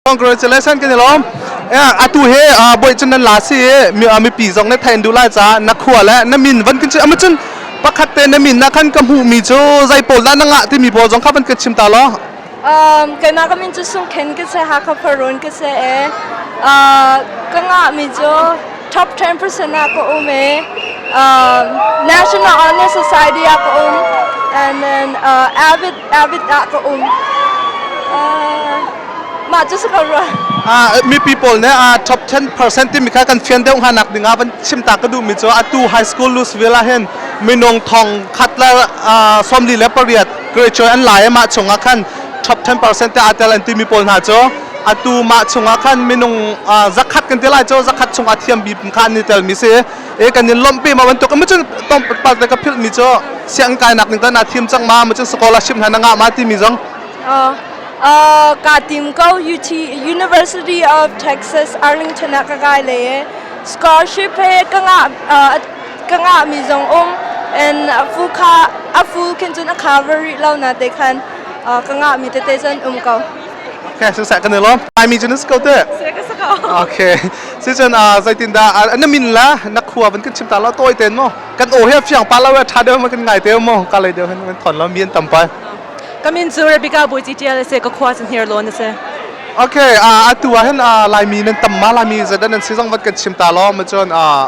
congratulations kan i lawm atu he boy cun nan la si mipi zong ne thain du lai ca na khua le na min van kan amma cun pakhat te na min na khan ka hmuh mi cu zai pawl da na ngah timi pawl zong kha van kan chim ta law Um, keimah ka min cu Sung Khen ka si, Hakha Khuarun ka si e. Uh, ka ngah mi cu top 10% ah ka um e. Um, National Honest Society ah ka um. And then uh, Avid, Avid ah ka um. Uh, mah cu si ko rua. Ah, mipi pawl ne ah top 10% timi kha kan fian deuh hanak ding ah van chim ta ka duh mi cu atu high school Louisville ah hin minung thong khat la ah sawmli le pariat Khuacawi an lai i mah chungah khan top 10% te aa tel an timi pawl hna cu atu mah chungah khan minung zakhat kan ti lai cu zakhat chungah thiam bip kha an i telmi si e kan in lawmh pi ma bantuk mu cun tawmpal te ka philhmi cu siang kainak ning tan naa thiam cang ma mu cun scholarship hna na ngah ma timi zong uh, ka tim ko UT University of Texas Arlington ah ka kai le scholarship he ka ngah ka ngahmi zong um and a fu kha a fu khin cun a kha va rih lo na te khan uh, ka ngahmi tete cun um ko Okay, so sa kan lom. Ai mi junus ko te. Okay. Si cun ah zeitindah an min la na khua van kan chim ta la toy ten mo. Kan o he fiang pa la wa tha de ma kan ngai te mo ka le de han man thon lo mien tam pa. Kamin zu Rebecca boi ti tial se ka khua cun here lo na se. Okay, ah atu ah hen ah lai mi nan tam ma lai mi zadan nan sizang vat kan chim ta lo ma chon ah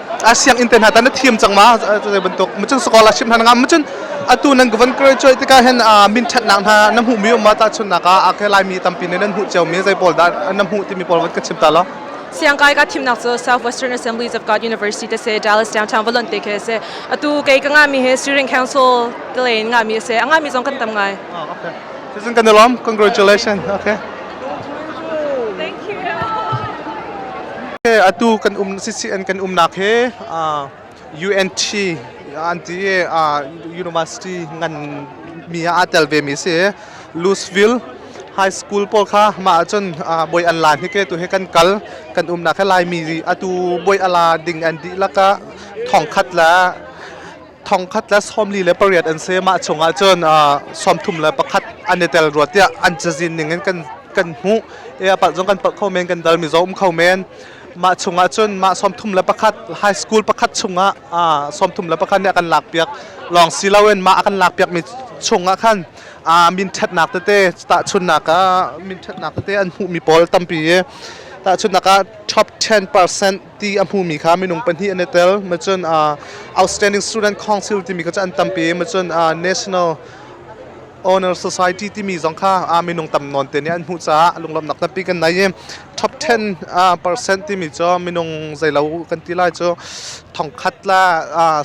a sianginn te hna ta na thiam cang ma zei bantuk macung sekolah sim hna ngam macun atu nan govan graduate tika hen min that nak hna na hmu mi ma ta chun nak a ke lai mi tampi ne nan hu cheu mi zei pawl da na hmu ti mi pawl wat ka chim ta lo siangkai ka thimnak cu Southwestern Assemblies of God University te se Dallas downtown volunteer ke se atu ke ka nga mi he steering council kle nga mi se anga mi zong kan tam ngai okay Susan, kan alom. Congratulations. Okay. Thank you. Atu kan um CCN kan umnak he UNT anti university ngan mi a tel ve mi si Louisville high school pawl kha ma ahcun boi an lan hi ke tu he kan kal kan umnak he lai mi atu boi ala ding an di laka thongkhat la thongkhat le sawmli le pariat an si mah chungah cun sawmthum le pakhat an i tel rua tiah an cazin ning in kan kan hmuh e apart zong kan palh kho men kan dal mi zong um kho men mah chungah cun mah sawmthum le pakhat high school pakhat chungah sawmthum le pakhat nih a kan lak piak lawng si loin mah a kan lak piak mi chungah khan min ṭhatnak tete tahchunnak ah min ṭhatnak tete an hmuh mi pawl tampi tahchunnak ah top 10% ti a hmumi kha minung pahnih an i tel macun outstanding student council timi kha cu an tampi macun national honor society timi zong kha minung tam nawn te nih an hmuh caah lunglamnak tampi kan nei i top 10 percent timi cu minung zeilo kan ti lai cu thongkhat la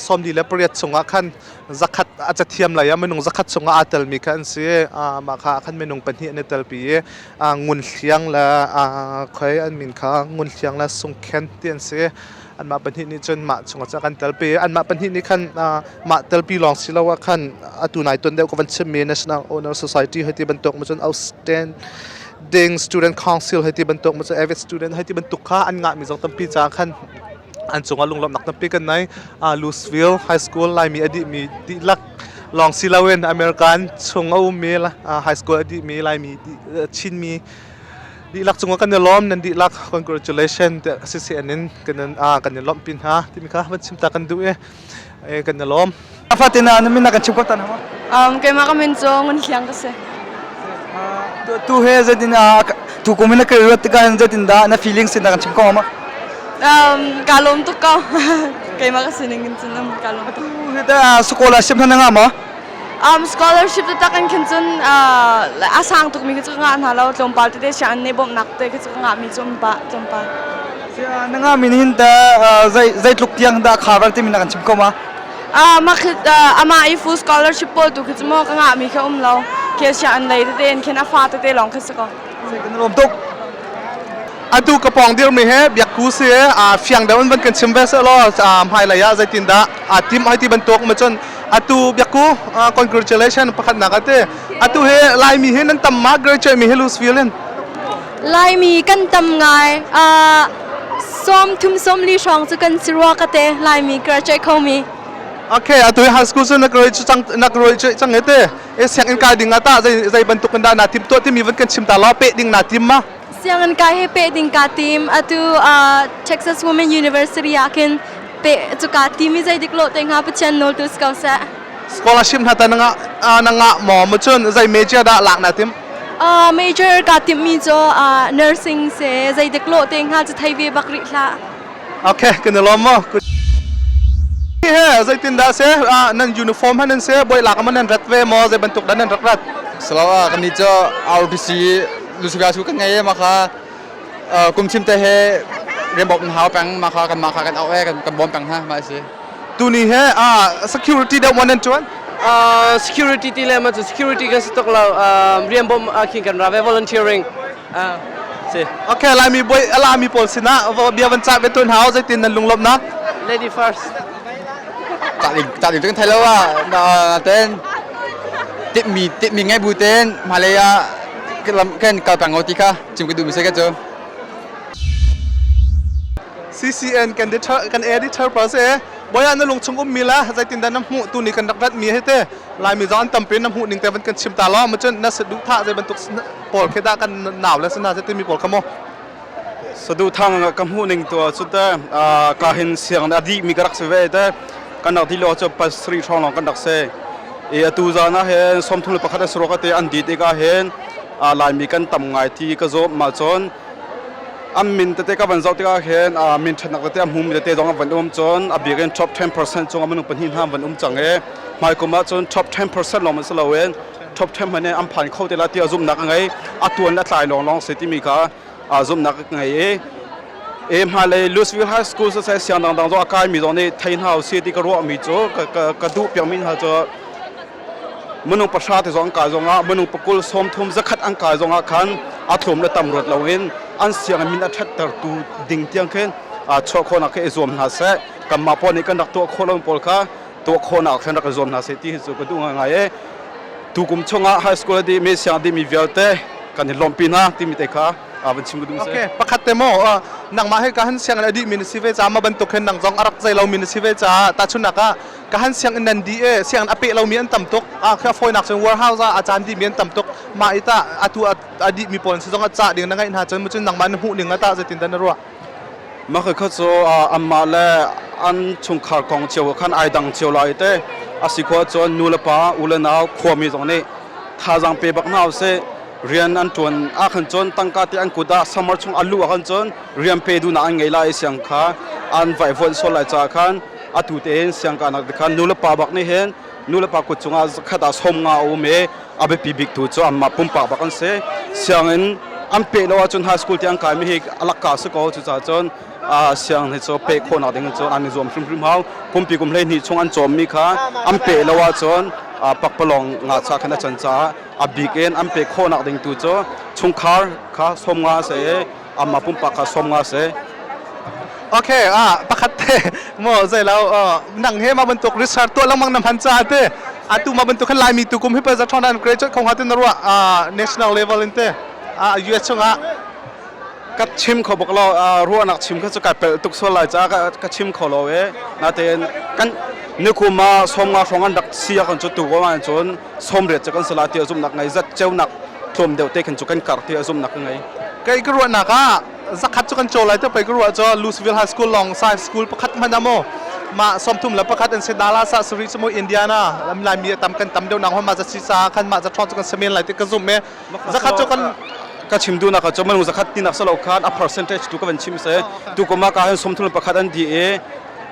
sawmli le pariat chungah khan zakhat a cathiam lei ah minung zakhat chungah aa telmi kha an si mah kha khan minung pahnih an i telpi i ah Ngunhliang le ah khoi an min kha Ngunhliang le Sungkhen ti an si. Anmah pahnih nih cun mah chungah cun a kan telpi i anmah pahnih nih khan mah telpi lawng si lo ah khan atu nai ton deuh ka van chimmi National Owner Society hei ti bantuk maw cun outstanding student council hei ti bantuk maw cun avid student hei ti bantuk kha an ngahmi zong tampi caah khan an cungah lunglawmhnak tampi kan nei Louisville High School Laimi a dihmi dihlak lawng si loin American chung a ummi high school a dihmi Laimi Chinmi dihlak cungah kan i lawm nan dihlak congratulation te si si anin kan kan i lawmh pi hna timi kha van chim ta kan duh i kan i lawm fatin na min kan chim ko ta na ang keima ka min cu ngun hliang ka si Tu he zeitin tukum in na ka ruat tikah zeitindah na feeling sin kan chim ko ma? Um, ka lawm tuk ko. Keimah ka sining in cun um, ka lawm tuk. Sekolah sim hana ngah ma? Um, scholarship te tak in khin cun a sang tuk mi ke cu nga hna lo tlawmpal te te sian ne bom nak te ke cu nga mi tlawmpal tlawmpal. Na nga min hin ta zei zei tluk tiang da khabar ti min kan chim ko ma? amah i full scholarship pawl tu khi cu maw ka ngahmi khi a um lo khi sia an lei tete in khin a fa tete lawng khi si ko atu ka pawng dirmi he biakku si a fiang deuh in van kan chim ve seh law hmai lei ah zeitin dah a tim hai ti bantuk ma cun atu biakku congratulation pakhatnak ate atu he laimi hi nan tam ma graduate mi hi lusfield in Laimi kan tam ngai. Uh, sawm thum sawmli hrawng cu kan si rua ka te Laimi ka ra kho mi. Okay, atu high school cu nak roi cu cang nak roi cu cang ete. E siangin kai ding ata zai zai bantuk kan da na tim to timi van kan chim ta la pe ding na tim ma. Siangin kai he pe ding ka tim atu uh, Texas Women University ah kin pe cu ka ti mi zai dik lo te nga pathian nol tu sko sa. scholarship hna ta na ngah na ngah maw mu cun zei major dah lak na tim uh, major ka timmi cu uh, nursing se zei dik lo te nga cu thei ve bak ri hla okay kan lom mo he zei tin da se nan uniform han se boy lak man nan rat ve mo zei bantuk dan nan rak rat salawa kami cho RPC lusuga su kan ngai ma kha kum chim te he rembok hau pang ma kha kan ma kha kan au e kan kan bom pang ha ma si tuni he uh, security deuh maw nan tuan uh, security ti le ma cu security kan si tok lo um, rian bom uh, khin kan ra ve volunteering uh, si okay laimi boy alami pawl sinah bia van cah ve tuan hao zeitin nan lunglop nak lady first cah ding cah ding kan thai lo wa na ten tip mi tip mi ngai bu ten malaya kan kalpang o ti kha chim ke du mi se ka chu CCN kan editor kan editor pa se boya na lung chung ummi la zeitindah na hmuh tuni kan rak ratmi hi te laimi zong an tampi na hmuh ning te van kan chim ta lo ma cun na sa duh thah zei bantuk pawl khi dah kan naw le sina se timi pawl kha mo sadu thang ka hmuh ning tu cu te ka hin siang na di mi ka rak se ve te kan rak di lo chu pas sri thong long kan rak se e atu zana hen som thul pakhat asro ka te an di te ka hen laimi kan tam ngai ti ka zo ma chon An min tete ka van zoh tikah khin min ṭhatnak tete a hmu mi tete zong an van um cun a bik in top 10% cung ah minung pahnih hna an van um cang i hmaikum ah cun top 10% lawng hmanh si loin top 10 hmanh in an phan kho te la tiah zumhnak a ngei a tuan le a tlai lawnglawng si timi kha zumhnak a ngei i e hmailei Louisville High School sa sai siang dangdang zong a kai mi zong nih thei hna u si ti ka ruah mi cu ka duh piak mi hna cu minung pahra te zong an kai zongah minung pakul sawmthum zakhat an kai zongah khan a thuam le tam ruat loin an sianginn min a ṭhattertu ding tiang khin chuah khawhnak kha i zuam hna seh kanmah pawl nih kan rak tuah khawh lomi pawl kha tuah khawhnak khan rak i zuam hna seh ti cu ka duh ngai e tukum chungah high school di me siang dimi vialte kan i lawm pinak timi te kha van chim ka duh okay pakhat te mo nangmah he ka han siang adi min si ve ca ma bantuk hen nang zong arak zai lo min si ve ca ta chunak ah ka han sianginn nan di e sianginn a peh lomi an tam tuk a kha fawinak cun warehouse ah a caan dimi an tam tuk mah i tah atu a dih mi pawl zong a cah ding na ngaih hna cun mu cun nangmah na hmuh ning a tah zeitin da na ruah mah kha cu anmah le an chungkhar kong cio khan ai dang cio lai te asi ko cun nu le pa u le nau khuami zong nih thazang pe bak na se rian an tuan a khan cun tangka te an kut ah samar chung alu a khan cun rian pe du na an ngei lai siang kha an vai vuan so lai cha khan atu tein siangkahnak te khan nulepa bak nih hin nulepa kut cungah zakhat ah som nga a um i a biapi bik tu cu anmah pumpak bak an si sianginn an peh lo ahcun high school te an kaimi hi alakka si ko cucaah cun siang hi cu peh khawhnak ding in cun an i zuam hrimhrim hau pumpi kum hleihnih chung an cawmmi kha an peh lo ahcun pakpalawng ngacha khan a can caah a bik in an peh khawhnak ding tu cu chungkhar kha som nga a si i amma pumpak kha som nga se okay ah pakhat te mo zai lo nang he ma bantuk research to langmang na man cha te atu ma bantuk khan laimi tu kum hi pa za thon an graduate khong hatin ruwa national level in te a US chunga ka chim kho bok lo ruwa nak chim kha chu ka pel tuk sol lai cha ka chim kho lo e na te kan ni kuma som nga phong an dak sia kan chu tu ko man chun somret cu kan sala ti zumnak ngei zat ceunak tlawm deuh te khan chu kan kar ti zumnak ka ngei kei ka ruahnak ah zakhat cu kan caw lai te pei ka ruah cu Louisville High School long science school pakhat hman amaw mah sawmthum le pakhat an se Dallas ah sari chu mo Indiana Laimi tam kan tam deuh nang hon ma za si sa khan ma za thong chu kan semen lai te ka zoom me zakhat chu kan ka chim du na ka cho man zakhat tinak salo khan a percentage tu ka van chim se tu kuma ka han sawmthum le pakhat an di e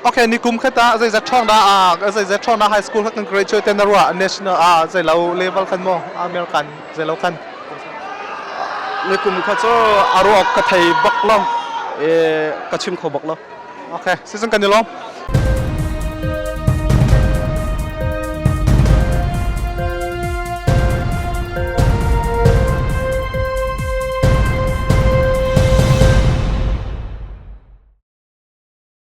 Okay, nikum khata zeizat ṭhawngda ah zeizat ṭhawngda high school kha kan graduate ten na ruah national ah zeilo level khan maw American zeilo khan nikum kha cu aruok ka thei bak lo e ka chim kho bak lo okay season kan ilom